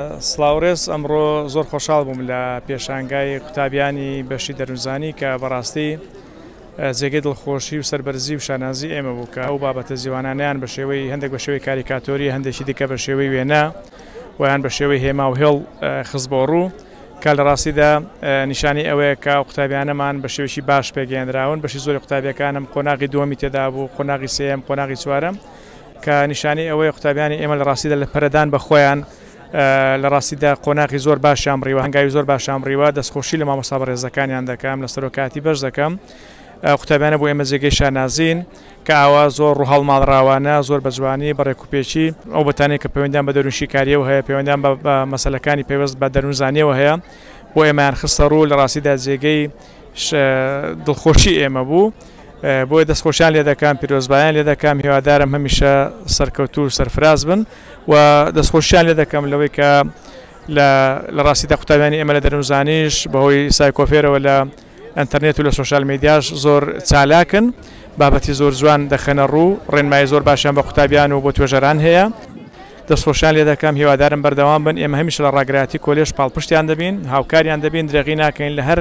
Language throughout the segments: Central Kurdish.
سڵاو ڕێز ئەمڕۆ زۆر خۆشحاڵ بووم لە پێشانگای قوتابیانی بەشی دەروونزانی کە بەڕاستی جێگەی دڵخۆشی و سەربەرزی و شانازی ئێمە بوو کە ئەو بابەتە زیوانانەیان بە شێوەی هەندێک بە شێوەی کاریکاتۆری هەندێکی دیکە بە شێوەی وێنە ویان بە شێوەی هێما و هێڵ خست بۆ ڕوو کە لە ڕاستیدا نیشانی ئەوەیە کە قوتابیانەمان بە شێوەی باش پێگەێنراون بەشی زۆری قوتابیەکانم قۆناغی دووەمی تێدا بوو قۆناغی سێم قۆناغی چوارم کە نیشانەی ئەوەیە قوتابیانی ئێمە لە ڕاستیدا لە پەرەدان بە خۆیان لە ڕاستیدا قۆناغی زۆر باشیان بڕیوە هەنگاوی زۆر باشیان بڕیوە دەستخۆشی لە مامۆستا بەڕێزەکانیان دەکەم لە سەرۆکاتی بەش دەکەم قوتابیانە بۆ ئێمە جێگەی شانازین کە ئاوا زۆر ڕوحاڵ ماڵراوانە زۆر بە جوانی بەڕێک و پێچی ئەو بەتانێک کە پەیوەندیان بە دەروونشیکاریەوە هەیە پەیوەندیان بە مەسلەکانی پێوەست بە دەروونزانیەوە هەیە بۆ ئێمەیان خستە ڕوو لە ڕاستیدا جێگەی دڵخۆشی ئێمە بوو بۆیە دەستخۆشیان لێ دەکەم پیرۆزبایان لێ دەکەم هیوادارم هەمیشە سەرکەوتوو و سەرفراز بن و دەستخۆشیان لێ دەکەم لەوەی کە لە ڕاستیدا قوتابیانی ئێمە لە دەرونزانیش بەهۆی سایکۆفێرەوە لە ئەتەرنێت و لە سوۆشال میدیاش زۆر چالاکن بابەتی زۆر جوان دەخەنە ڕوو ڕێنمای زۆر باشیان بە قوتابیان و بۆ توێژەران هەیە. دەست خۆشیان لێ دەکەم هیوادارم بەردەوام بن ئێمە هەمیشە لە ڕاگرایەتی کۆلێژ پاڵپشتیان دەبین هاوکاریان دەبین درێغی ناکەین لە هەر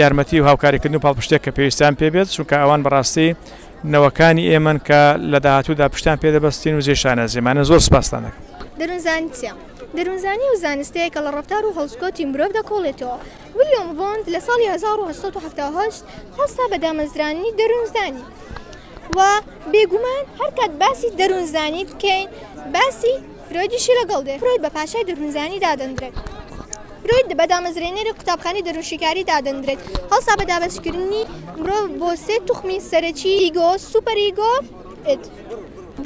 یارمەتی و هاوکاریکردن و پاڵپشتێک کە پێویستیان پێ بێت چونکە ئەوان بەڕاستی نەوەکانی ئێمەن کە لە داهاتوودا پشتیان پێ دەبەستین و جێی شانازیمانە زۆر سپاستان دەکەم دەروونزانی چییە؟ دەروونزانی و زانستەیە کە لە ڕەفتار و هەڵسوکەوتی مرۆڤ دەکۆڵێتەوە ویلیۆم ڤۆند لە ساڵی هەزار و هەشت سەد و حەفتا و هەشت هەڵستا بە دامەزرانی دەروونزانی و بێگومان هەر کات باسی دەروونزانی بکەین باسی فرۆیدیشی لەگەڵ دێ فرۆید بە پاشای دەروونزانی دادەندرێت فرۆید بە دامەزرێنەری قوتابخانی دەروونشیکاری دادەندرێت هەڵسا بە دابەشکردنی مرۆڤ بۆ سێ توخمی سەرەکی ئیگۆ سوپەر ئیگۆ ئید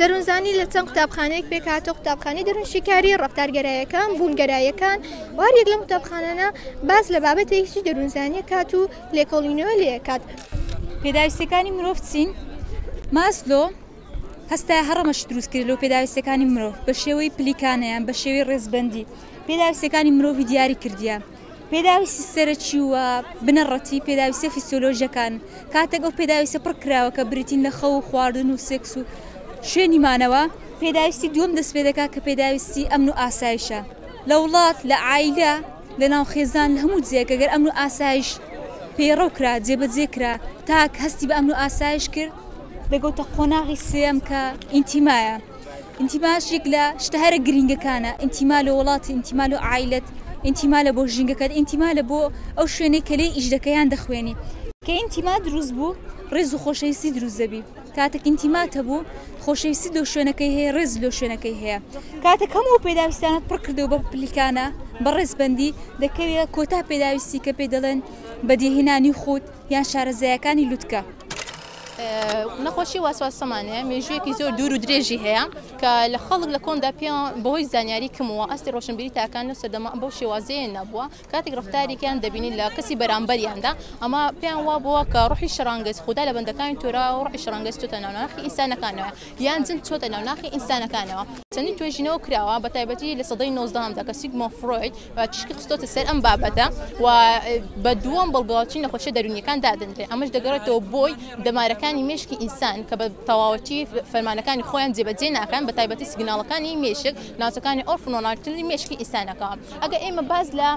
دەروونزانی لە چەند قوتابخانەیەک پێکهاتە قوتابخانی دەروونشیکاری ڕفتارگەرایەکان بوونگەرایەکان وارێک لەم قوتابخانانە باس لە بابەتێکی دەروونزانیە کات و لێکۆڵی نوێ لێکات. پێداویستیەکانی مرۆڤ چین؟ ماسلۆ هەستایە هەڕەمەش دروست کرد لەو پێداویستەکانی مرۆڤ بە شێوەی پلیکانەیان بە شێوەی ڕێزبندی پێداویستەکانی مرۆڤی دیاری کردیە پێداویستی سەرەکی و بنەڕەتی پێداویستە فیسۆلۆژەکان کاتێک ئەو پێداویستە پڕ کراوە کە بریتین لە خەو و خواردن و سێکس و شوێنی مانەوە پێداویستی دووەم دەست پێ دەکات کە پێداویستی ئەمن و ئاسایشە لە وڵات لە ئایلە لەناو خێزان لە هەموو جێیەک گەر ئەمن و ئاسایش پەیڕەو کرا جێبەجێ کرا تاک هەستی بە ئەمن و ئاسایش کرد دەگەوتە قۆناغی سێم کە ئینتیمایە ئینتیماش یەک لە شتە هەرە گرینگەکانە ئینتیما لە وڵات ئینتیما لە عیلت ئینتیما لە بۆ ژینگەکەت ئینتیما لە بۆ ئەو شوێنەی کە لێ ئیش دەکەیان دەخوێنی کە ئینتیما دروست بوو ڕێز و خۆشەویستی دروست دەبی. کاتێک ئینتیمات هەبوو، خۆشەویستیت لۆ شوێنەکەی هەیە، ڕێزت لۆ شوێنەکەی هەیە. کاتێک هەموو ئەو پێداویستانەت پڕ کردەوە بە پلیکانە، بە ڕێزبەندی، دەکەویە کۆتا پێداویستی کە پێی دەڵێن بەدیهێنانی خووت یان شارەزایەکانی لوتکە. نەخۆشی واسواس سەمانێ مێژوویەکی زۆر دوور و درێژی هەیە کە لە خەڵک لە کۆندا پێیان بەهۆی زانیاری کم و ئاستی ڕۆشنبیری تاکان لەو سەردەمە بەو شێوازەیە نەبووە. کاتێک ڕەفتارێکیان دەبینین لە کەسی بەرامبەریاندا ئەمە پێیان وا بووە کە ڕوحی شەڕانگێز خودا لە بەندەکانی تۆرا و ڕوحی شەڕانگێز چۆتە ناو ناخی ئینسانەکانەوە یان جن چۆتە ناو ناخی ئینسانەکانەوە چەندین توێژینەوە کراوە بە تایبەتی لە سەدەی نۆزدەهەمدا کە سیگمۆن فرۆید تیشکی خستۆتە سەر ئەم بابەتە و بە دووەم بەڵگەواچی نەخۆشیە دەرونیەکان دادەنرێت ئەمەش دەگەڕێتەوە بۆی دەمارەکانی مێشکی ئینسان کە بە تەواوەتی فەرمانەکانی خۆیان جێبەجێ ناکەن بە تایبەتی سیگناڵەکانی مێشک ناوچەکانی ئۆرفنۆناکتلی مێشکی ئینسانەکە ئەگەر ئێمە باس لە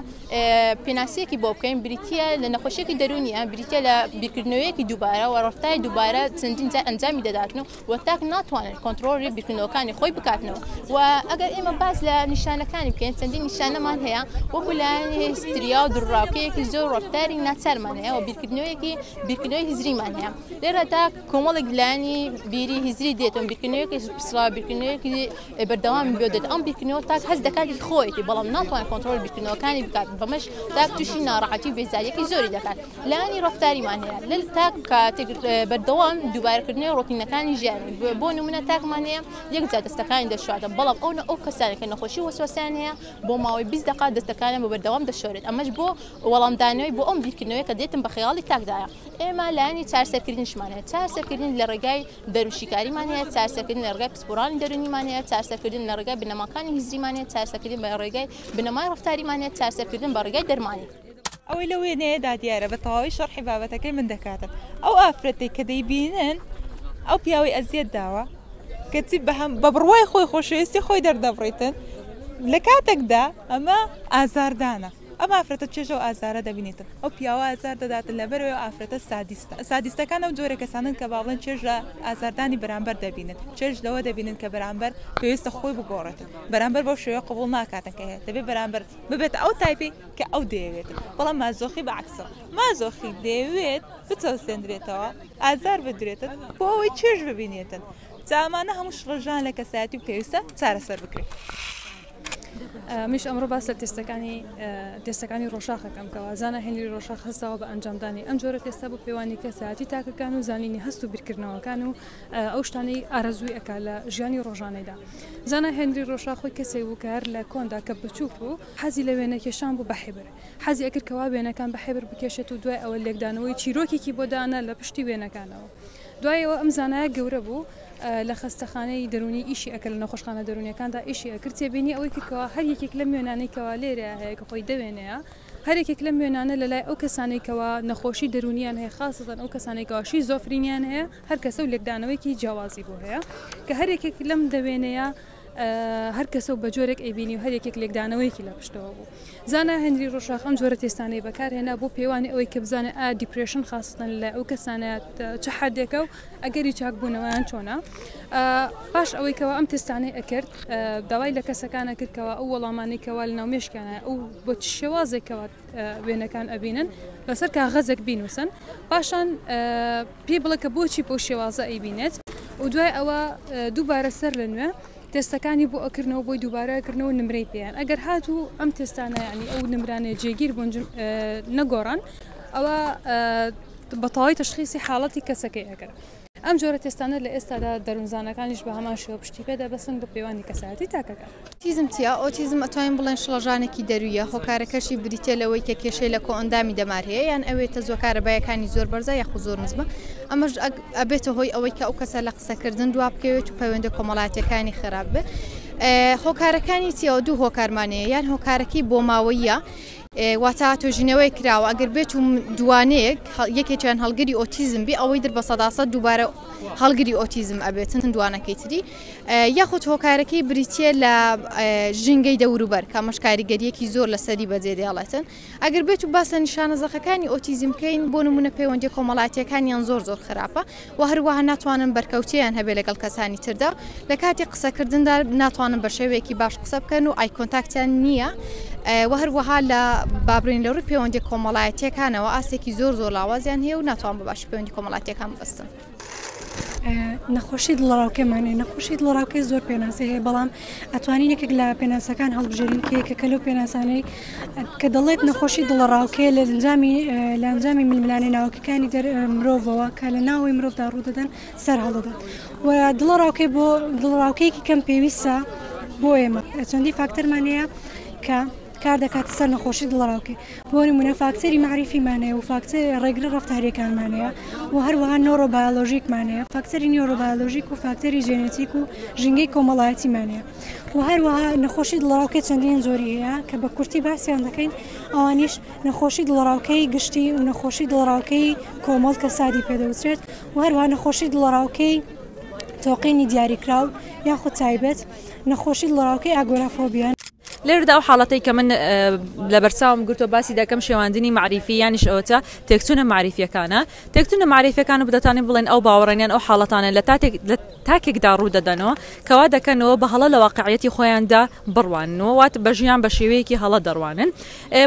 پێناسەیەکی بۆ بکەین بریتە لە نەخۆشیێکی دەرونیە بریتە لە بیرکردنەوەیەکی دووبارە و ڕفتای دووبارە چەندین جار ئەنجامی دەداتن و و تاک ناتوانن کۆنتترۆلی بیرکردنەوەکانی خۆی بکاتنەوە و ئەگەر ئێمە باس لە نیشانەکانی بکەین چەندین نیشانەمان هەیە وەکو لایەن هستریا و دڕاوکەیەکی زۆر ڕفتاری ناچارمان هەیە و بیرکردنەوەیەکی بیرکردنەوەی هزریمان هەیە لێرەدا کۆمەڵێک لانی بیری هزری دێتون بیرکردنەوەیەکی پسرا بیرکردنەوەیەکی بەردەوام بێت ئەم بیرکردنەوە تاک هەست دەکات هی خۆیەتی بەڵام ناتوانێت کۆنترۆڵی بیرکردنەوەکانی بکات بەمەش تاک تووشی ناڕەحەتی و بێزاریەکی زۆری دەکات لانی ڕەفتاریمان هەیە لە تاک کاتێک بەردەوام دووبارەکردنی ڕۆتینەکانی ژیان بۆ نمونە تاکمان هەیە یەک جا دەستەکانی دەشواتە بەڵام ئەو ئەو کەسانی کە نەخۆشی وەسوەسیان هەیە بۆ ماوەی 20 دقا دەستەکانیان بە بەردەوام دەشۆرێت ئەمەش بۆ وەڵامدانەوەی بۆ ئەم بیرکردنەوەی کە دێتم بە خەیاڵی تاکدایە ئێمە لانی چارسەرکردنشمانەیە چارسەرکردن لە ڕێگای دەروون شیکاریمان هەیە، چارەسەرکردن لە ڕێگای پسپۆڕانی دەروونیمان هەیە، چارەسەرکردن لە ڕێگای بنەماکانی هزریمان هەیە، چارەسەرکردن بە ڕێگای بنەمای ڕەفتاریمان هەیە، چارەسەرکردن بە ڕێگای دەرمانی. ئەوەی لەو وێنەیەدا دیارە بە تەواوی شەڕحی بابەتەکەی من دەکاتن ئەو ئافرەتەی کە دەیبینن ئەو پیاوەی ئەزیەت داوە کەچی بەهەم بە بڕوای خۆی خۆشەویستی خۆی دەردەبڕیتن لە کاتێکدا ئەمە ئازاردانە. ئەم ئافرەتە چێژە و ئازارە دەبینێتن، ئەو پیاوە ئازار دەداتن، لەبەرئەوەی ئەو ئافرەتە سادیستە. سادیستەکان ئەو جۆرە کەسانەن کە با بڵێن چێژ لە ئازاردانی بەرامبەر دەبینن، چێژ لەوە دەبینن کە بەرامبەر پێویستە خۆی بگۆڕێتن، بەرامبەر بەو شێوەیە قبوڵ ناکاتن کە هەیە، دەبێت بەرامبەر ببێتە ئەو تایپەی کە ئەو دەیەوێتن، بەڵام مازۆخی بە عەکسەوە، مازۆخی دەیەوێت بچەوسێندرێتەوە، ئازار بدرێتن، بۆ ئەوەی چێژ ببینێتن، جا ئەمانە هەموو شڵەژان لە کەسایەتی و پێویستە چارەسەر بکرێت. منیش ئەمڕۆ باس لە تێستەکانی تێستەکانی ڕۆژاخ دەکەم کە وازانە هێنری ڕۆژاخ هەستاوە بە ئەنجامدانی ئەم جۆرە تێستا بۆ پێوانی کەسایەتی تاکەکان و زانینی هەست و بیرکردنەوەکان و ئەو شتانەی ئارەزووی ئەکا لە ژیانی ڕۆژانەیدا زانا هێنری ڕۆژاخ خۆی کەسێک بوو کە هەر لە کۆندا کە بچووک بوو حەزی لە وێنەکێشان بوو بە حیبر حەزی ئەکرد کەوا وێنەکان بە حیبر بکێشێت و دوای ئەوە لێکدانەوەی چیرۆکێکی بۆ دانا لە پشتی وێنەکانەوە دوایەوە ئەم زانایە گەورە بوو لە خەستەخانەی دەروونی ئیشی ئەکرد لە نەخۆشخانە دەروونیەکاندا ئیشی ئەکرد تێبینی ئەوەی کرد کەوا هەر یەکێک لەم وێنانەی کەوا لێرەیا هەیە کە خۆی دەوێنێیا هەر یەکێک لەم وێنانە لە لای ئەو کەسانەی کەوا نەخۆشی دەروونیان هەیە خاستەن ئەو کەسانەی کەوا شیزۆفرینیان هەیە هەر کەسە و لێکدانەوەیەکی جیاوازی بۆ هەیە کە هەر یەکێک لەم دەوێنەیە هەر کەسە و بە جۆرێک ئەیبینی و هەر یەکێک لێکدانەوەیەکی لە پشتەوە بوو زانا هەنری ڕۆژاخ ئەم جۆرە تێستانەی بەکارهێنا بۆ پێوانی ئەوەی کە بزانێت ئا دیپرشن خاستن لە ئەو کەسانە چ حدێکە و ئەگەری چاک بوونەوەیان چۆنە؟ پاش ئەوەی کەوا ئەم تستانەی ئەکرد داوای لە کەسەکانە کردکەوە ئەو وەڵامانەی کەوا لە ناو مێشکیانە ئەو بۆ شێوازێکەوە وێنەکان ئەبینن لەسەر کاغەزێک بینوسن پاشان پێی بڵێ کە بۆچی بۆ شێوازە ئەیبینێت و دوای ئەوە دووبارە سەر لە نوێ تستەکانی بۆ ئەکردنەوە بۆی دووبارەکردنەوە نمرەی پێیان ئەگەر هاتوو ئەم تستانە ینی ئەو نمرانێ جێگیر بوون نەگۆڕان ئەوە بە تەواوی تەشخیسی حاڵەتی کەسەکەی ئەکەن. ئەم جۆرە تێستانە لە ئێستادا دەروونزانەکانیش بە هەمان شێوە پشتی پێ دەبەستن بۆ پەیوەندی کەسایەتی تاکەکان. ئۆتیزم چییە؟ ئۆتیزم ئەتوانین بڵێن شڵەژانێکی دەروویە، هۆکارەکەشی بریتییە لەوەی کە کێشەی لە کۆئەندامی دەمار هەیە یان ئەوێ تەزووە کارەباییەکانی زۆر بەرزە یاخود زۆر نزمە، ئەمەش ئەبێتە هۆی ئەوەی کە ئەو کەسە لە قسەکردن دوا بکەوێت و پەیوەندە کۆمەڵاتییەکانی خراپ بێت. هۆکارەکانی چییە؟ دوو هۆکارمان هەیە، یان هۆکارەکەی بۆماوەییە، واتە توێژینەوەیەک کراوە ئەگەر بێتو دووانەیەک یەکێکیان هەڵگری ئۆتیزم بێ ئەوەی در بە سەدا سەد دووبارە هەڵگری ئۆتیزم ئەبێتن دووانەکەی تری یاخود هۆکارەکەی بریتیە لە ژینگەی دەوروبەر کە ئەمەش کاریگەریەکی زۆر لەسەری بەجێ دێڵێتن ئەگەر بێتو باس لە نیشانە زەقەکانی ئۆتیزم بکەین بۆ نمونە پەیوەندی کۆمەڵاتیەکانیان زۆر زۆر خراپە وە هەروەها ناتوانن بەرکەوتێیان هەبێت لەگەڵ کەسانی تردا لە کاتی قسەکردندا ناتوانن بە شێوەیەکی باش قسە بکەن و ئایکۆنتاکتیان نییە وە هەروەها لە بابرین لە ڕووی پەیوەندی کۆمەڵایەتیەکانەوە ئاستێکی زۆر زۆر لاوازیان هەیە و ناتوان بە باش پەیوەندی کۆمەڵاتیەکان بەستن. نەخۆشی دڵەڕاوکێ مانای نەخۆشی دڵەڕاوکێ زۆر پێناسەی هەیە بەڵام ئەتوانین یەکێک لە پێناسەکان هەڵبژێرین کە یەکێکە لەو پێناسانەی کە دەڵێت نەخۆشی دڵەڕاوکێ لە ئەنجامی لە ئەنجامی ململانێ ناوکیەکانی دەر مرۆڤەوە کە لە ناوەی مرۆڤدا ڕوودەدەن سەر هەڵدەدات و دڵەڕاوکێ بۆ دڵڕاوکەیەکی کەم پێویستە بۆ ئێمە چەندی فاکتەرمانەیە کە کار دەکاتە سەر نەخۆشی دڵەڕاوکێ بۆ نمونە فاکتەری مەعریفیمانەیە و فاکتەر ڕێگرە ڕفتاریەکانمانەیە و هەروەها نۆرۆبایۆلۆژیکمانەیە فاکتەری نیۆرۆبایۆلۆژیک و فاکتەری جێنێتیک و ژینگەی کۆمەڵایەتیمانەیە و هەروەها نەخۆشی دڵەڕاوکێ چەندین زۆری هەیە کە بە کورتی باسییان دەکەین ئەوانیش نەخۆشی دڵەڕاوکەی گشتی و نەخۆشی دڵەڕاوکەی کۆمەڵ کە سادی پێدەوترێت و هەروە نەخۆشی دڵەڕاوکەی تۆقینی دیاریکراو یاخود تایبەت نەخۆشی دڵەڕاوکەی ئاگۆرافۆبیان لێرەدا ئەو حاڵەتەی کە من لەبەرچاوم گرتووە باسی دەکەم شێواندنی مەعریفی یانیش ئەوەتە تێکچوونە مەعریفیەکانە تێکچوونە مەعریفەکان و دەتوانین بڵێن ئەو باوەڕێنیان ئەو حاڵەتانە لە تاتێک لە تاکێکدا ڕوو دەدەنەوە کەوا دەکەنەوە بە هەڵە لە واقعەتی خۆیاندا بڕوانەوە وات بە ژیان بە شێوەیەکی هەڵە دەڕوانن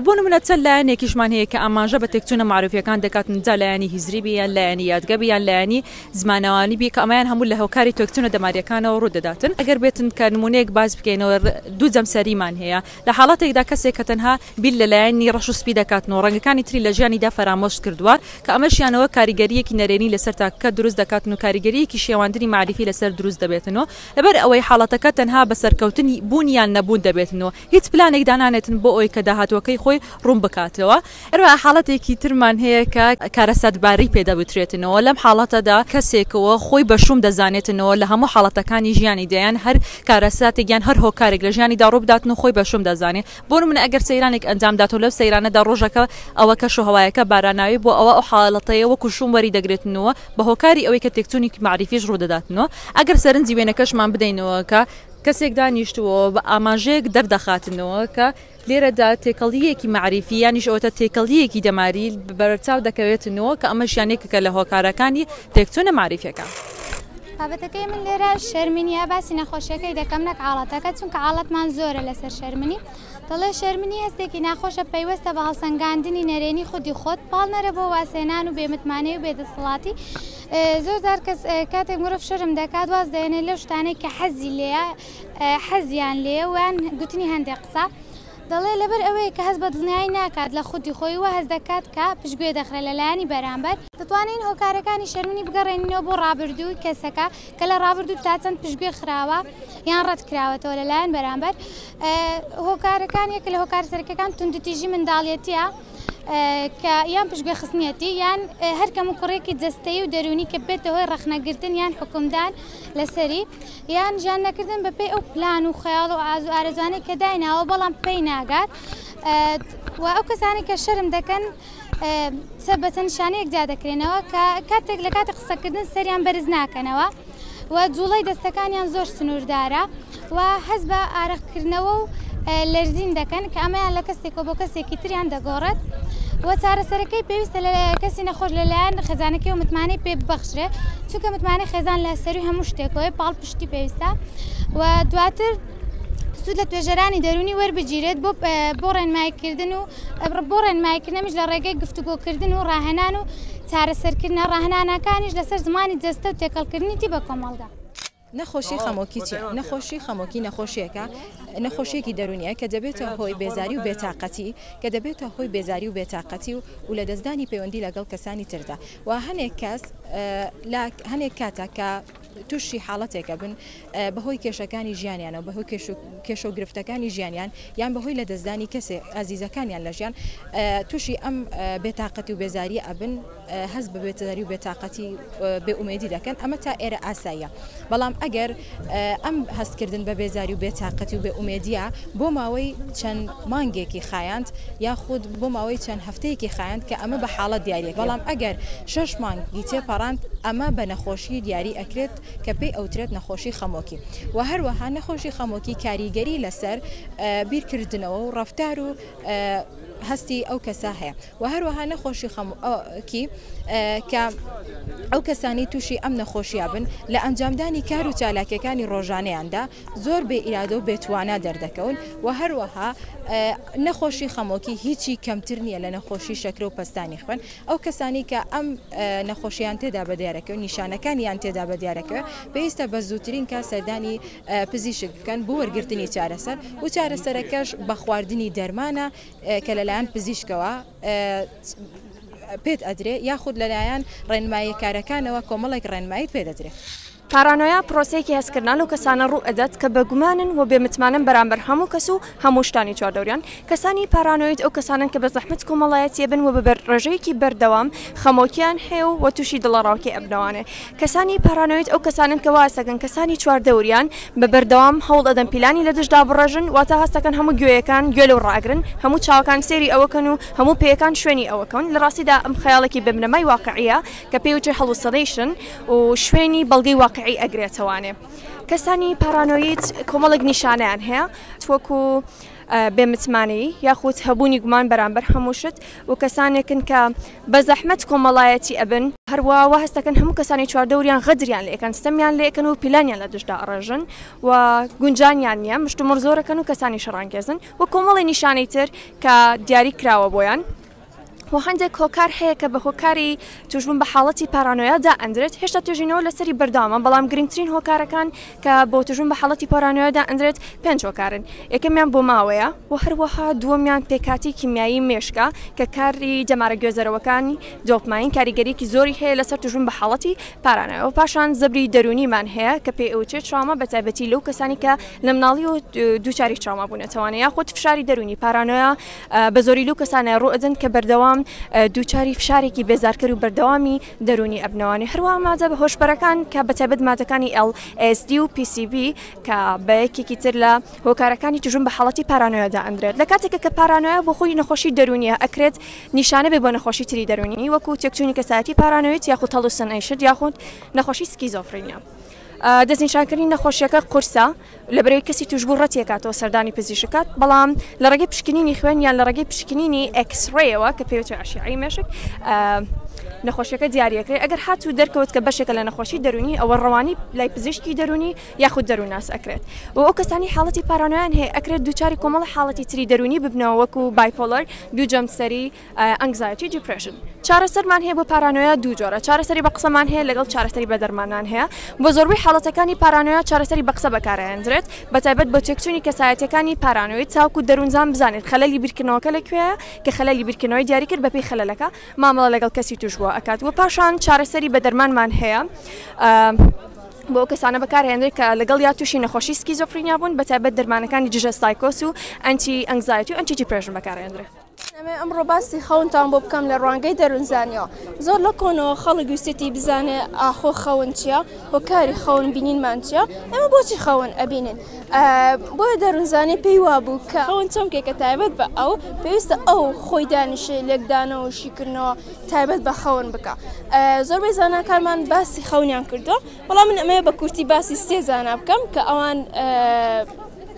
بۆ نمونە چەند لایەنێکیشمان هەیە کە ئاماژە بە تێکچوونە مەعروفییەکان دەکاتن، جا لایەنی هیزری بی، یان لایەنی یادگە بی، یان لایەنی زمانەوانی بی کە ئەمەیان هەموو لە هۆکاری تێکچوونە دەمارییەکانەوە ڕوو دەداتن. ئەگەر بێتن کە نمونەیەک باس بکەینەوە، دوو جەمسەریمان هەیە، لە حاڵەتێکدا کەسێک کە تەنها بیر لە لایەنی ڕەش و سپی دەکاتن و ڕەنگەکانی تری لە ژیانیدا فەرامۆش کردووە کە ئەمەشیانەوە کاریگەرییەکی نەرێنی لەسەر تاکەکە دروست دەکاتن و کاریگەرییەکی شێواندنی مەعریفی لەسەر دروست دەبێتن و لەبەر ئەوەی حاڵەتەکە تەنها بە سەرکەوتن بوون یان نەبوون دەبێتن و هیچ پلانێک دانانێتن بۆ ئەوەی کە داهاتووەکەی خۆی ڕوون بکاتەوە. هەروەها حاڵەتێکی ترمان هەیە کە کارەساتباری پێ دەوترێتنەوە، لەم حاڵەتەدا کەسێک خۆی بە شووم دەزانێتنەوە لە هەموو حاڵەتەکانی ژیانیدا، یان هەر کارەساتێک یان هەر هۆکارێک لە ژیانیدا ڕوو بداتن و خۆی بە شووم دەزانێ. بۆ نموونە ئەگەر سەیرانێک ئەنجام دات و لەو سەیرانەدا ڕۆژەکە ئەوە کەشوهەوایەکە باراناوی بووە ئەوا ئەو حاڵەتەی وەکوو شووم وەری دەگرێتنەوە بە هۆکاری ئەوەی کە تێکچوونێکی مەعریفیش ڕوو دەداتنەوە. ئەگەر سەرنجی وێنەکەشمان بدەینەوە کە. کەسێک دانیشتووە و بە ئاماژەیەک دەردەخاتنەوە کە لێرەدا تێکەڵییەکی مەعریفی یانیش ئەوەتا تێکەڵییەکی دەماری بەرچاو دەکەوێتنەوە کە ئەمەش یان یەکێکە لە هۆکارەکانی تێکچوونە مەعریفییەکە. بابەتەکەی من لێرە شەرمنییە، باسی نەخۆشییەکەی دەکەم نەک حاڵەتەکە، چونکە حاڵەتمان زۆرە لەسەر شەرمنی. دەڵێ، شەرمنی هەستێکی ناخۆشە پەیوەستە بە هەڵسەنگاندنی نەرێنی خودی خۆت، پاڵنەرە بۆ وازهێنان و بێمتمانەیی و بێدەسەڵاتی، زۆر جار کەس کاتێک مرۆڤ شەرم دەکات واز دەێنێ لەو شتانەی کە حەزی لێە حەزیان لێ وان گوتنی هەندێک قسە دەڵێ لەبەر ئەوەیە کە هەز بە دڵنیایی ناکات لە خودی خۆی وە هەز دەکات کە پشتگوێ دەخرێت لە لایەنی بەرامبەر دەتوانین هۆکارەکانی شەرمنی بگەڕێنینەوە بۆ ڕابردووی کەسەکە کە لە ڕابردوو تا چەند پشتگوێ خراوە یان ڕەت کراوەتەوە لەلایەن بەرامبەر هۆکارەکان یەک لە هۆکار سەرکەکان توندتیژی منداڵیەتە کە یان پشتگوێ خستنیەتی یان هەر کەم و کوڕێکی جەستەیی و دەروونی کە بێتە هۆی ڕەخنەگرتن یان حکومدان لەسەری یان ژیان نەکردن بەپێی ئەو پلان و خەیاڵ و ئازو ئارەزوانەی کە دایناوە بەڵام پێی ناگات و ئەو کەسانی کە شەرم دەکەن سەر بەچەند نیشانەیەک جیا دەکرێنەوە کە کاتێک لە کاتی قسەکردن سەریان بەرز ناکەنەوە و جوڵەی دەستەکانیان زۆر سنووردارە. و هەست بە ئارەق کردنەوە و لەرزین دەکەن کە ئەمەیان لە کەسێکەوە بۆ کەسێکی تریان دەگۆڕێت و چارەسەرەکەی پێویستە لە کەسی نەخۆش لەلایەن خێزانەکەی و متمانەی پێ ببەخشرێ چونکە متمانەی خێزان لە سەروی هەموو شتێکەوەی پاڵ پشتی پێویستە و دواتر سود لە توێژەرانی دەرونی وەربگیرێت بۆ بۆ ڕێنمایکردن و بۆ ڕێنمایکردنەمیش لە ڕێگەی گفتوگۆکردن و ڕاهێنان و چارەسەرکردنە ڕاهنانەکانیش لەسەر زمانی جەستە و تێکەڵکردنی تی بە کۆمەڵگا. نەخۆشی خەمۆکی چیە؟ نەخۆشی خەمۆکی نەخۆشیەکە نەخۆشیەکی دەرونیە کە دەبێتە هۆی بێزاری و بێتاقەتی کە دەبێتە هۆی بێزاری و بێتاقەتی و و لە دەستدانی پەیوەندی لەگەڵ کەسانی تردا و هەنێک کەس لە هەنێک کاتە کە توشی حاڵەتێکە بن بە هۆی کێشەکانی ژیانیانەوە بە هۆی کێش و گرفتەکانی ژیانیان یان بە هۆی لە دەستدانی کەسێ ئازیزەکانیان لە ژیان توشی ئەم بێتاقەتی و بێزاریە ئەبن هەست بە بێتەداری و بێتاقەتی و بێ ئومێدی دەکەن، ئەمە تا ئێرە ئاساییە، بەڵام ئەگەر ئەم هەستکردن بە بێزاری و بێتاقەتی و بێ ئومێدییە بۆ ماوەی چەند مانگێکی خایاند یاخود بۆ ماوەی چەند هەفتەیەکی خایاند کە ئەمە بە حاڵەت دیاریەکرێت، بەڵام ئەگەر شەش مانگ ی تێپەڕاند ئەمە بە نەخۆشی دیاری ئەکرێت کە پێی ئەوترێت نەخۆشی خەمۆکی و هەروەها نەخۆشی خەمۆکی کاریگەری لەسەر بیرکردنەوە و ڕەفتار و هەستی ئەو کەسە هەیە. و هەروەها نەخۆشی خەمۆکی کە ئەو کەسانی تووشی ئەم نەخۆشیە بن لە ئەنجامدانی کار و چالاکیەکانی ڕۆژانەیاندا زۆر بێ ئیرادە و بێتوانە دەردەکەون و هەروەها نەخۆشی خەمۆکی هیچی کەمتر نییە لە نەخۆشی شەکرە و پستانی خوێن ئەو کەسانی کە ئەم نەخۆشیان تێدا بە دیارەکە و نیشانەکانیان تێدا بە دیارەکە پێویستە بە زووترین کا سەردانی پزیشک بکەن بۆ وەرگرتنی چارەسەر و چارەسەرەکەش بە خواردنی دەرمانە کە لەلایەن پزیشکەوە پێت ئەدرێ یاخود لەلایەن ڕێنماییە کارەکانەوە کۆمەڵێک ڕێنماییت پێ دەدرێ. پارانۆیا پرۆسەیەکی هەستکردنە لەو کەسانە ڕوو ئەدات کە بە گومانن و بێ متمانەن بەرامبەر هەموو کەس و هەموو شتانی چواردەوریان. کەسانی پارانۆید ئەو کەسانەن کە بە زەحمەت کۆمەڵایەتییە بن و بە ڕێژەیەکی بەردەوام خەمۆکییان هەیە و تووشی دڵەڕاوکێ ئەبنەوانێ. کەسانی پارانۆید ئەو کەسانەن کە وازدەکەن کەسانی چواردەوریان بە بەردەوام هەوڵ ئەدەن پیلانی لە دژدا بڕێژن واتە هەست ئەکەن هەموو گوێیەکان گوێ لەو ڕاگرن هەموو چاوەکان سەیری ئەوەکەن و هەموو پێیەکان شوێنی ئەوەکەون لە ڕاستیدا ئەم خەیاڵێکی بێ بنەمای واقعیە کە پێی وترێ هەڵوسنەیشن و شوێنی بەڵگەی واقعی ئەگرێتەوانێ کەسانی پارانۆید کۆمەڵێک نیشانەیان هەیە وەکو بێ متمانەیی یاخود هەبوونی گومان بەرامبەر هەموو شت و کەسانێکن کە بە زەحمەت کۆمەڵایەتی ئەبن، هەروا وا هەست دەکەن هەموو کەسانی چواردەوریان غەدریان لێ ئەکەن، ستەمیان لێ ئەکەن و پیلانیان لە دژدا ئەڕێژن و گونجانیان نییە، مشتومڕ زۆر ئەکەن و کەسانی شەڕانگێزن و کۆمەڵێ نیشانەی تر کە دیاری کراوە بۆیان. و هەندێک هۆکار هەیە کە بە هۆکاری تووشبوون بە حاڵەتی پارانۆیا دائەندرێت هێشتا توێژینەوە لەسەری بەردەوامە بەڵام گرنگترین هۆکارەکان کە بۆ تووشبوون بە حاڵەتی پارانۆیا دائەندرێت پێنج هۆکارن یەکەمیان بۆ ماوەیە و هەروەها دووەمیان پێکهاتەی کیمیایی مێشکە کە کاری دەمارە گوێزەرەوەکانی دۆپماین کاریگەرییەکی زۆری هەیە لەسەر تووشبوون بە حاڵەتی پارانۆیا و پاشان زەبری دەروونیمان هەیە کە پێی ئەوترێت تراوما بەتایبەتی لەو کەسانەی کە لە مناڵییەوە دووچاری تراوما بوونەتەوانە یاخود فشاری دەروونی پارانۆیا بە زۆری لەو کەسانە ڕوو ئەدەن کە بەردەوام دووچاری فشارێکی بێزارکەر و بەردەوامی دەرونی ئەبنەوانی هەروە مادە بە هۆشبەرەکان کە بەتەبەت مادەکانی LSD و PCB کە بە یەکێکی تر لە هۆکارەکانی توژون بە حڵەتی پارانۆیادا ئەندرێت لە کاتێکە کە پارانۆیا بۆ خۆی نەخۆشی دەرونیە ئەکرێت نیشانە بێ بۆ نەخۆشی تری دەرونی وەکو تێکچوونی کەسایەتی پارانۆیت یاخود هەڵوسن ئەیشت یاخود نەخۆشی سکیزۆفرینیا. دەستنیشانکردنی نەخۆشییەکە قورسە لەبەرئەوەی کەسی تووشبوو ڕەتیەکاتەوە سەردانی پزیشک بکات، بەڵام لە ڕێگەی پشکنینی خوێن یان لە ڕێگەی پشکنینی ئێکسڕەیەوە کە پێوتوێ ئەشیعەی مێشک نەخۆشیەکە دیارەکرێت ئەگەر هات و دەرکەوت کە بەشێکە لە نەخۆشی دەرونی ئەوە ڕەوانی لای پزیشکی دەرونی یاخود دەرووناس ئەکرێت و ئەو کەسانی حاڵەتی پارانۆیان هەیە ئەکرێت دووچاری کۆمەڵە حاڵەتی تری دەرونی ببنەوە وەکو بایپۆلەر دوو جەمسەری ئەنگزایتی دیپرێشن چارەسەرمان هەیە بۆ پارانۆیا دوو جۆرە چارەسەری بە قسەمان هەیە لەگەڵ چارەسەری بە دەرمانان هەیە بۆ زۆربەی حاڵەتەکانی پارانۆیا چارەسەری بە قسە بەکارئەهێندرێت بە تایبەت بۆ تێکچوونی کەسایەتییەکانی پارانۆید تاوەکو دەروونزان بزانێت خەلەلی بیرکردنەوەکە لە کوێیە کە خەلەلی بیرکردنەوەی دیاری کرد بەپێی خەلەلەکە مامەڵە لەگەڵ کەسی تووشبووە ئەکات وە پاشان چارەسەری بە دەرمانمان هەیە بۆ ئەو کەسانە بەکارهێندرێت کە لەگەڵ یا تووشی نەخۆشی سکیزۆفرینیا بوون بە تایبەت دەرمانەکانی دژە سایکۆس و ئەنتی ئەنگزایتی و ئەنتی دیپرێشن بەکارئەهێندرێت. ئەمەوێ ئەمڕۆ باسی خەونتان بۆ بکەم لە ڕوانگەی دەروونزانیەوە زۆر لە کۆنەوە خەڵک ویستێتی بزانێ ئاخۆ خەون چیە هۆکاری خەون بینینمان چیە ئەمە بۆچی خەون ئەبینین بۆیە دەروونزانانی پێی وابوو کە خەون چەمکێکە تایبەت بە ئەو پێویستە ئەو خۆی دانیشێ لێکدانەوە و شیکردنەوە تایبەت بە خەون بکە زۆربەی زانکارمان باسی خەونیان کردو بەڵام من ئەمەیە بە کورتی باسی سێ زانا بکەم کە ئەوان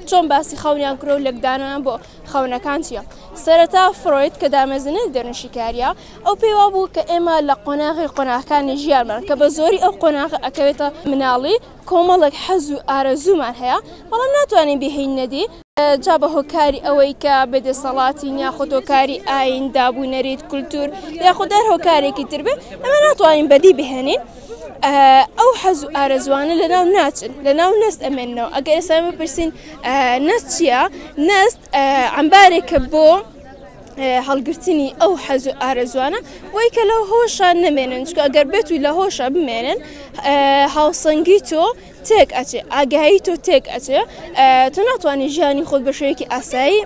چۆن باسی خەونیان کرۆ لەکدانیان بۆ خەونەکان چییە؟ سەرەتا فرۆید کە دامەزرێنەری دەروونشیکارییە، ئەو پێی وابوو کە ئێمە لە قۆناغی قۆناغەکانی ژیانمان کە بە زۆری ئەو قۆناغە ئەکەوێتە مناڵی، کۆمەڵێک حەز و ئارەزوومان هەیە، بەڵام ناتوانین بهێین نەدی، جا بە هۆکاری ئەوەی کە بێ دەسەڵاتین یاخود هۆکاری ئایین، دابوو نەریت، کولتوور یاخود هەر هۆکارێکی تر بێت، ئێمە ناتوانین بەدی بهێنین، ئەو حەز و ئارەزووانە لەناو ناچن، لەناو نەستەمێننەوە، ئەگەر ئێستە بپرسین، نەست چییە؟ نەست ئەمبارێکە بۆ هەڵگرتنی ئەو حەز و ئارەزوانە بۆی کە لەو هۆشە نەمێنن چکە گەر بێت و لە هۆشە بمێنن هاوسەنگی تۆ تێک ئەچێ ئاگایی تۆ تێک ئەچێ تۆ ناتوانانی ژیانی خۆت بە شوەیەکی ئاسایی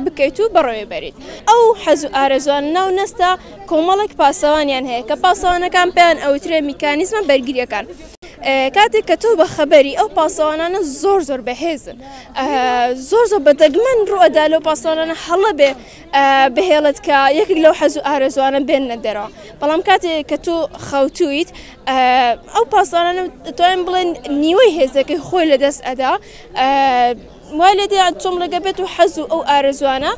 بکەیت و بەڕێ بەریت ئەو حەز و ئارەزوان ناو نەستە کۆمەڵێک پاسەوانیان هەیە کە پاسەوانەکان پێیان ئەوترێ میکانیزمە بەرگریەکان. کاتێک کە تۆ بەخەبەری ئەو پاسەوانانە زۆر زۆر بەهێزن زۆر زۆر بەدەگمەن ڕوئەدا لەو پاسەوانانە هەڵە بێ بهێڵت کە یەکێک لەو حەز و ئارەزوانە بێن نەدەرەوە بەڵام کاتێک کە تۆ خەوتویت ئەو پاسەوانانە توانین بڵێن نیوەی هێزەکەی خۆی لەدەست ئەدا وای لێ دەیان تۆم ڕێگە بێت و حەز و ئەو ئارەزوانە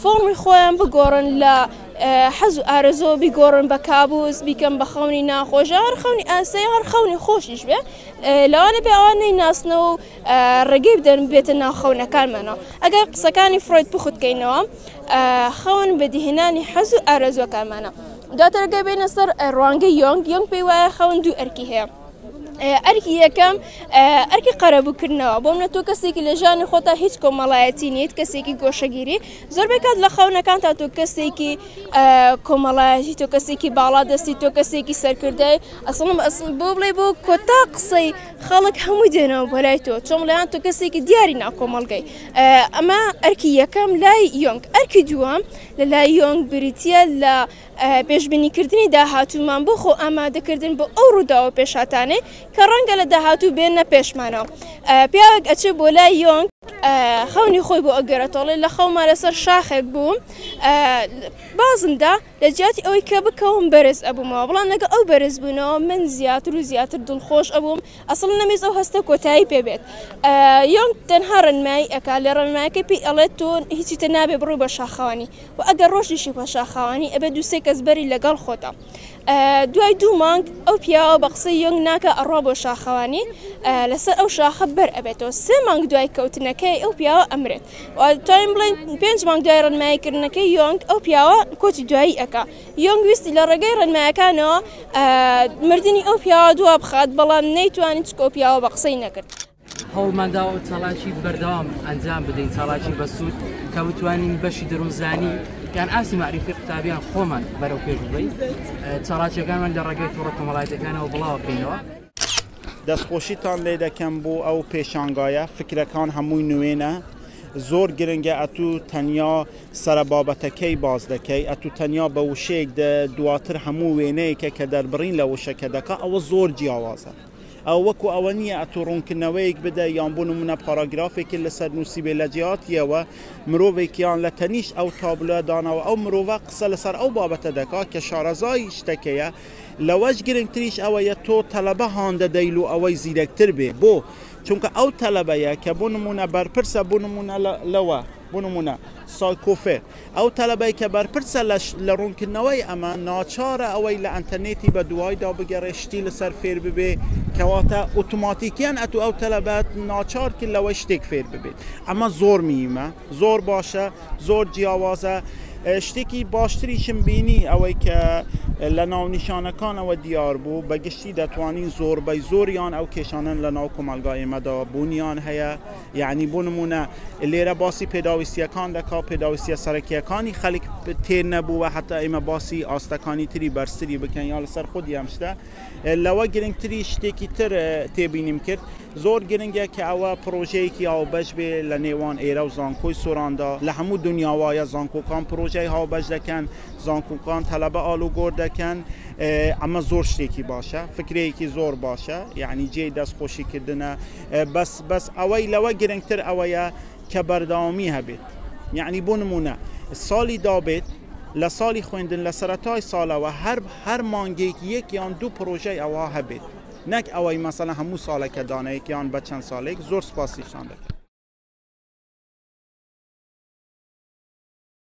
فۆڕمی خۆیان بگۆڕن لە حەز و ئارەزۆ بیگۆڕن بە کابوس بیکەم بە خەونی ناخۆشە هەر خەونی ئاسایی هەر خەونی خۆشیش بێ لەوانە بێ ئەوان نەی ناسنەوە و ڕێگەی بدەن بێتە ناخەونەکانمانەوە ئەگەر قسەکانی فرۆید بخوتکەینەوە خەون بەدیهێنانی حەز و ئارەزوەکانمانە دواترگە بینە سەر ڕوانگە یۆنگ یۆنگ پێی وایە خەون دوو ئەرکی هەیە ئەرکی یەکەم ئەرکی قەرەبووکردنەوە بۆم لە تۆ کەسێکی لە ژانی خۆتا هیچ کۆمەڵایەتی نیت کەسێکی گۆشەگیری زۆربەی کات لە خەونەکان تا تۆ کەسێکی کۆمەڵایەتی تۆ کەسێکی باڵا دەستی تۆ کەسێکی سەرکردای ئەسڵم ئەسڵ بۆ بڵێ بۆ کۆتا قسەی خەڵک هەموو دێنەوە بەلای تۆ چۆم لەیان تۆ کەسێکی دیاری ناکۆمەڵگەی ئەمە ئەرکی یەکەم لای یۆنگ ئەرکی دووەم لە لای یۆنگ بریتە لە پێشبینیکردنی داهاتوومان بۆ خۆ ئامادەکردن بۆ ئەو ڕووداوە پێشهاتانەی کە ڕەنگە لە داهاتوو بێنە پێشمانەوە پیاوێک ئەچێ بۆ لای یۆنگ خەونی خۆی بۆ ئەگەرەتەڵێ لە خەوما لەسەر شاخێک بووم بازمدا لە جیاتی ئەوەی کە بکەوم بەرز ئەبوومەوە بڵام لەگە ئەو بەرز بوونەوە من زیاتر و زیاتر دڵخۆش ئەبووم ئەسڵ نەمێز ئەو هەستە کۆتایی پێبێت یۆنگ تەنها ڕنمایی ئەک لە ڕنمایەکە پێی ئەڵێت تۆن هیچی تە نابێ بڕوو بە شاخەوانی و ئەگەر ڕۆشتیشی بە شاخاوانی ئەبێ دوو سێ کەس بەری لەگەڵ خۆتە دوای دوو مانگ ئەو پیاوە بە قسەی یۆنگ ناکە ئەڕوا بۆ شاخەوانی لەسەر ئەو شاخە بەر ئەبێتەوە سێ مانگ دوای کەوتنەکەی ئەو پیاوە ئەمرێت توانین بڵێن پێنج مانگ دوای ڕنماییکردنەکەی یۆنگ ئەو پیاوە کۆچی دوایی ئەکا یۆنگ ویستی لە ڕێگەی ڕێنمایەکانەوە مردنی ئەو پیاوە دوا بخات بەڵام نەیتوانی چکۆ پیاوە بە قسەی نەکرد هەوڵمانداوە چالاکی بەردەوام ئەنجام بدەین چالاکی بەسوود کە بتوانین بەشی دەروونزانی یان ئاسی معریفی قوتابیان خۆمان بەرەو پێش بڵین چالاکیەکانمان لە ڕێگەی توڕە کۆمەڵایەتەکانەوە بڵاوە بکەینەوە دەستخۆشیتان لێ دەکەم بۆ ئەو پێشانگایە فکرەکان هەمووی نوێنە زۆر گرنگە ئەتوو تەنیا سرە بابەتەکەی باز دەکەی ئەتوو تەنیا بە وشەیەک دواتر هەموو وێنەیەکە کە دەربڕین لە وشەکە دەکە ئەوە زۆر جیاوازە ئەوە وەکو ئەوە نییە ئەتوو ڕوونکردنەوەیەک بدەی یان بۆ نموونە پاراگرافێکی لەسەر نووسیبێ لە جیاتییەوە مرۆڤێکیان لە تەنیشت ئەو تابلۆیە داناوە ئەو مرۆڤە قسە لەسەر ئەو بابەتە دەکات کە شارەزای شتەکەیە لەوەش گرنگتریش ئەوەیە تۆ تەلەبە هان دەدەیل و ئەوەی زیرەکتر بێ بۆ چونکە ئەو تەلەبەیە کە بۆ نموونە بەرپرسە بۆ نموونە لەوە بۆ نموونە سایکۆفێر، ئەو تەلەبەی کە بەرپرسە لە ڕوونکردنەوەی ئەمە، ناچارە ئەوەی لە ئەنتەرنێتی بە دوایدا بگەڕێ شتی لەسەر فێر ببێ، کەواتە ئۆتۆماتیکییەن ئەتوو ئەو تەلەبە ناچار کرد لەوەی شتێک فێر ببێت. ئەمە زۆر مییمە، زۆر باشە، زۆر جیاوازە. شتێکی باشتریشم بینی ئەوەی کە لە ناونیشانەکانەوە دیار بوو، بە گشتی دەتوانین زۆربەی زۆریان ئەو کێشانەن لە ناو کۆمەڵگای ئێمەدا بوونیان هەیە، یەعنی بۆ نموونە لێرە باسی پێداویستییەکان دەکا و پێداویستییە سەرەکییەکانی خەلک تێر نەبووە هەتا ئێمە باسی ئاستەکانی تری بەرزتری بکەین یا لەسەر خودی ئەم شتە لەوە گرنگتری شتێکی تر تێبینیم کرد زۆر گرنگە کە ئەوە پرۆژەیەکی هاوبەش بێ لە نێوان ئێرە و زانکۆی سۆراندا لە هەموو دنیاوایە زانکۆکان پرۆژەی هاوبەش دەکەن زانکۆکان تەلەبە ئالوگۆر دەکەن ئەمە زۆر شتێکی باشە فکرەیەکی زۆر باشە یعنی جێی دەست خۆشیکردنە بەس بەس ئەوەی لەوە گرنگتر ئەوەیە کە بەردەوامی هەبێت یعنی بۆ نمونە ساڵی دابێت لە ساڵی خوێندن لە سەرەتای ساڵەوە هەر هەر مانگێک یەک یان دوو پرۆژەی ئەوە هەبێت نەک ئەوەی مەسەلا هەموو ساڵێکە دانەیەک یان بە چەند ساڵێک زۆر سپاسیشان دەکەن